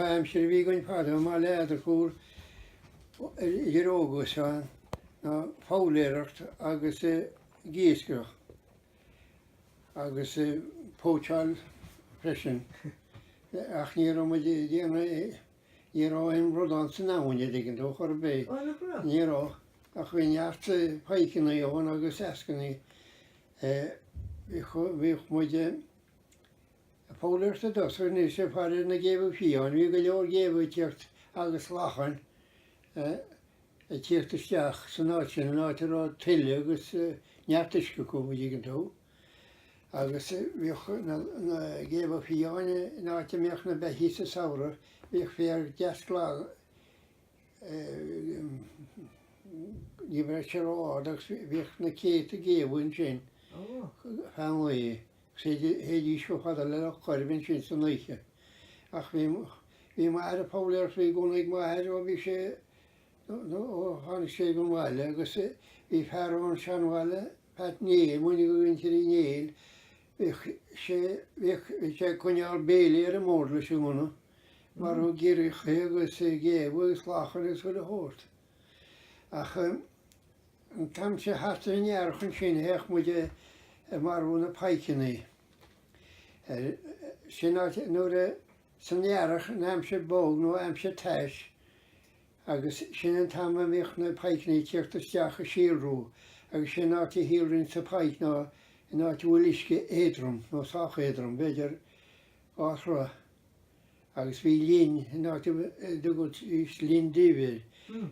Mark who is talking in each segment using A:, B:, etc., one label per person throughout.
A: aimsire a bhí againn fadó, i mbaile Eadargúil, idir óg agus sean, ná foghlaeireacht agus iascaireacht agus póitseáil freisin, ach ní raibh muid ag déanamh. Ní raibh aon bhradán san abhainn a dtuigeann tú chor ar bith. Ó, nach raibh? Ní raibh, ach bhí neart paidhceanna ann agus eascannaí. Bhíodh muid ag foghlaeireacht i dtosach go ndéanfaidh sé faraoir na géabha fiáin. Bhí go leor géabha ag tíocht agus lachain ag tíocht isteach san áit sin, an áit a raibh tuile agus neart uisce acu, a dtuigeann tú. Agus bhíodh na géabha fiáin in áit a mbíodh na beithígh sa samhradh, bhíodh féar deas glan, ní raibh sé ró-ard agus bhíodh na céadta géabha ansin feadh an lae agus théidís chomh fada le Loch Coirib ansin san oíche. Ach bhí, bhí m'athair ag foghlaeireacht, bhí gunna ag m'athair ó bhí sé, nó ó tháinig sé don bhaile agus bhí fear ón Seanbhaile, Pat Néill, duine de mhuintir Uí Néill, bhíodh sé, bhíodh, bhí sé ag coinneáil béilí ar an mbord leis an ngunna, ag marú giorriacha agus géabha agus lachain agus chuile shórt. Ach an t-am sin, thart ar an Earrach ansin, théadh muid ag, ag marú na paidhceannaí. Ar, sin áit, nuair a, san Earrach, in aimsir bog nó aimsir tais, Agus sin an t-am a mbíodh na paidhceanna ag tíocht isteach ag síolrú, agus sé an áit a shíolraíonns an paidhc ná in áit a bhfuil uisce éadrom, nó sách éadrom, b'fhéidir dhá throigh. Agus bhí linn in áit a dtugaidís Linn Duibhir,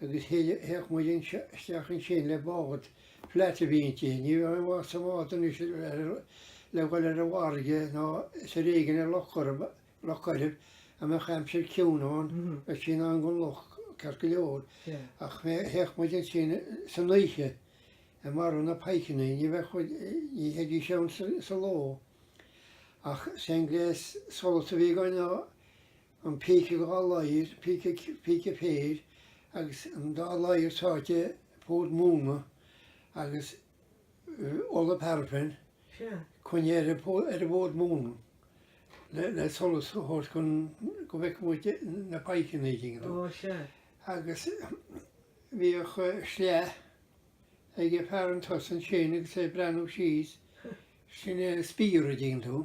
A: agus théadh muid isteach ansin le bád flat a bhí inti, ní bheadh aon mhaith sa mbád anois le dhul ar an bhfarraige ná is ar éigin ar Loch Coirib a mbeadh aimsir ciúin ann, bheadh sí in ann don loch ceart go leor, ach théadh muid ansin san oíche ag marú na paidhceanna, ní bheadh, ní théidís ann sa ló, ach is é an gléas solais a bhí againn ná an píce dhá ladhar, píce, píce féir, agus an dá ladhar sáite i bhfód móna agus. ola paraffin, coinnithe ar an bhfód móna le solas a thabhairt chun go bhfeicfeadh muid na paidhceannaí, a dtuigeann tú, agus bhíodh sleagh ag an bhfear chun tosaigh ansin agus é ag breathnú síos, sin é an spear, a dtuigeann tú.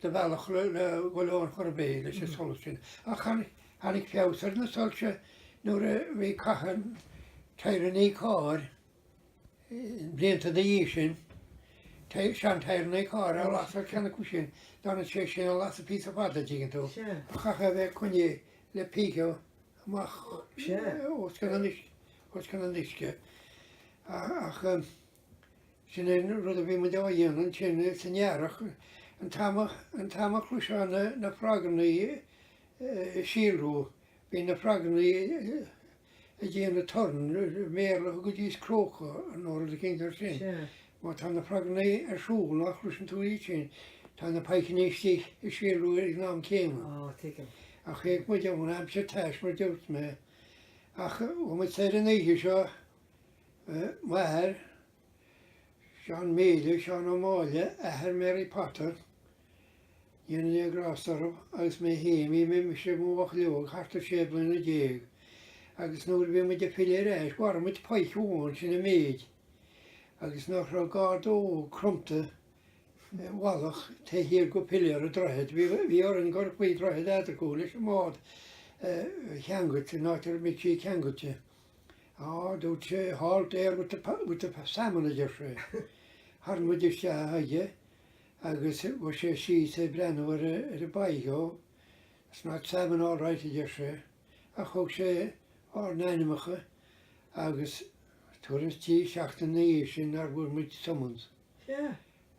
A: de bhealach le goil ann chor ar bith leis an solas sin, ach tháinig feabhas ar na soilse nuair a bhí caitheamh tyreanna carr blianta ina dhiaidh sin, sean tyreanna carr a lasadh ceann acu sin, d'fhanfadh sé sin ag lasadh píosa fada, an dtuigeann tú, chaithfeá a bheith á choinneáil le píce amach os cionn an uisce, ach. Sin an rud a bhí muid á dhéanamh ansin san earrach, an t-am a chloisfeá na frogannaí ag síolrú, bhí na frogannaí ag déanamh torann, i mBéarla thugaidís croak nó rud éicint air sin. Má tá na frogannaí ar siúl, nach gcloiseann tú iad sin, tá na pikeannaí istigh ag síolrú ag an am céanna. Ach théadh muid ann aimsir taisme, dúirt mé, ach bhí muid soir an oíche seo m'athair, Seán Melia, Seán Ó Máille, athair Mary Potter, go ndéana Dia grásta orthu, agus mé féin, bhí mise i mo bhuachaill óg thart ar sé bliana déag agus nuair a bhí muid ag filleadh ar ais mharaigh muid pike amháin, sin an méid. Agus nach raibh garda óg cromta i bhfalach taobh thiar de piléar an droichid, bhí orainn dul faoi dhroichead Eadargúil leis an mbád a cheangailt in áit a mbíodh sé ceangailte. Á, dúirt sé, halt there with the, with the salmon, a deir sé. Tharraing muid isteach chuige agus chuaigh sé síos ag breathnú ar an bpike, ó, that's not salmon all right, a deir sé, ach thug sé ár n-ainmeacha agus tuairim 's trí sheachtain ina dhiaidh sin nár bhfuair muid summons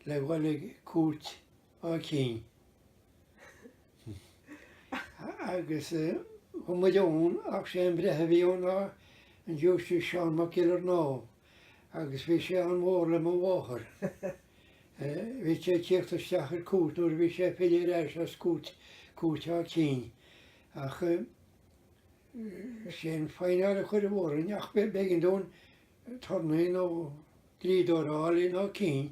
A: le dhul ag cúirt Áth Cinn. Agus chuaigh muid ann, ach sé an breitheamh a bhí ann ná an Giúistís Seán Mac Giollarnáth, agus bhí sé an-mhór le mo mháthair. Bhíodh sé ag tíocht isteach ar cuairt nuair a bhí sé ag filleadh ar ais as cúirt Áth Cinn. Ach sé an faineáil a cuireadh orainn, ach b'éigean dúinn turnae nó dlíodóir a fháil in Áth Cinn.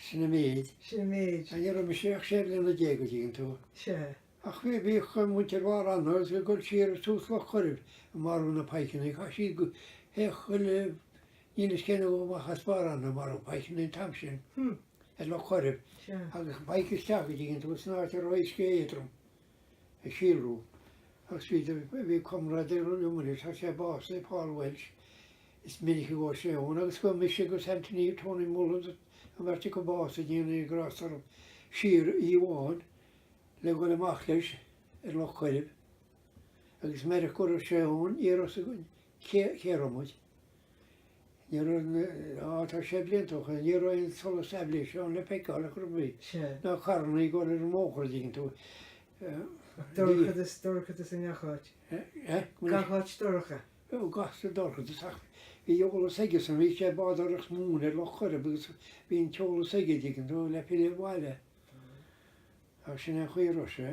A: Sin an méid. Sin an méid.
B: Ní raibh mise ach
A: sé bliana déag an dtuigeann tú. Sea. Ach
B: bhí, bhíodh
A: muintir Bharr Eanaigh ag dul siar ag tús Loch Coirib ag marú na pikeannaí. Chaith siad go, théadh chuile níl fhios cén uair amach as Barr Eanaigh ag marú pikeannaí an t-am sin. Hm. Ag Loch Coirib. Sea. Agus an pike
B: isteach
A: an dtuigeann tú san áit a raibh uisce éadrom. ag síolrú agus bhí do, bhí comrádaí liom ann, tá sé básaithe, Paul Welsh, is minic a ghabh sé ann agus ghabh mise agus Anthony, Tony Mullins, an bheirt acu básaithe go ndéana Dia grásta orthu, siar oíche amháin le dhul amach leis ar Loch Coirib agus meireach go raibh sé ann, ní raibh fhios againn cé, cé a raibh muid. Níor fhan, á tá sé blianta ó shoin, ní raibh aon solas aibhléise ann le feiceáil ar chor ar bith, ná carranna
B: ag dul
A: ar an mbóthar an dtuigeann tú. Dorchadas,
B: dorchadas i ngach áit. Gach áit dorcha. Ó, gach
A: áit dorchadas ach bhí eolas aigesan, bhí sé ag bádóireacht móna ar Loch Coirib agus bhí an t-eolas aige, an dtuigeann tú, le filleadh abhaile. Ach sin é an chaoi a raibh sé.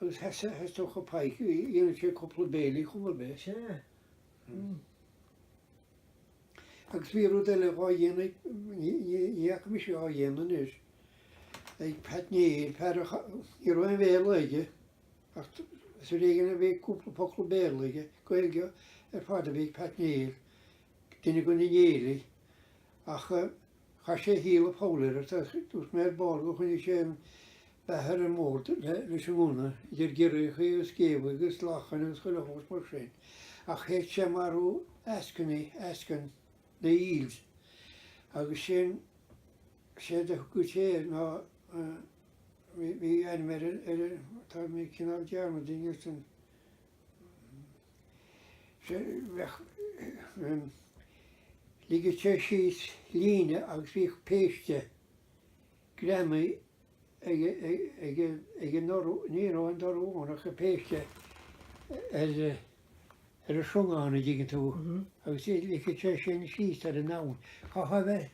A: agus sheasadh, is dócha, pike, dhéanadh sé cúpla béilí chomh maith le. Sea. Mh. Agus bhí rud eile dhá dhéanamh, ní fhaca mise dhá dhéanamh anois, ag Pat Néill, fear a, ní raibh aon Bhéarla aige ach is ar éigin a bhí cúpla focal Béarla aige, Gaeilge ar fad a bhí ag Pat Néill, duine de na Néilligh, ach. Chaith sé a shaol ag foghlaeireacht, agus dúirt mé ar ball gur choinnigh sé an beatha ar an mbord leis an ngunna, idir giorriachaí agus géabhaí agus lachain agus chuile shórt mar sin, ach théadh sé ag marú eascainí, eascainn, na eels, agus sin, séard a thugadh sé air ná, bhí ainm air, tá mé ag cineál dearmadta anois an. ligeadh sé síos líne agus bhíodh péiste greamaithe ag an dorú, ní raibh aon dorú ann ach an péiste ar ar an srongán an dtuigeann tú agus ligfeadh sé sin síos ar an abhainn. Chaithfeá a bheith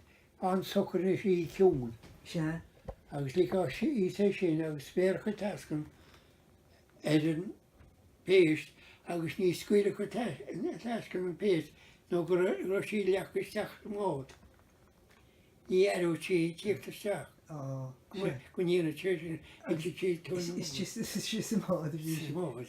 A: an-socair ina shuí ciúin
B: agus ligfeá
A: síos é sin agus bhéarfadh an t-eascann ar an bpéist agus ní scaoilfeadh an t-eascann an phéist nó go raibh sí leagtha isteach sa mbád. Ní aireodh sí tíocht isteach. go ndéanfadh sé sin agus ag siad tú. Is sí sa mbád a bhí. Sa mbád.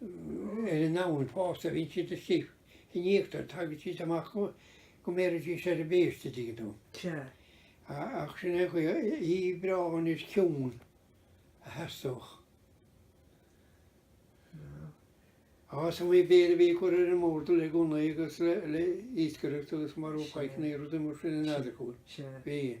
A: ar an abhainn fosta, a bhíonn siad istigh in íochtar, tagann siad amach go mbéarfaidís ar an bpéist an dtuigeann tú. Ach sin é
B: an
A: chaoi, oíche bhreá anois ciúin a theastódh. Is iomaí béile a bhí ag cur ar an mbord le gunnaí agus le iascaireacht agus marú faithní, rudaí
B: mar
A: sin in Eadargúil. Bhí.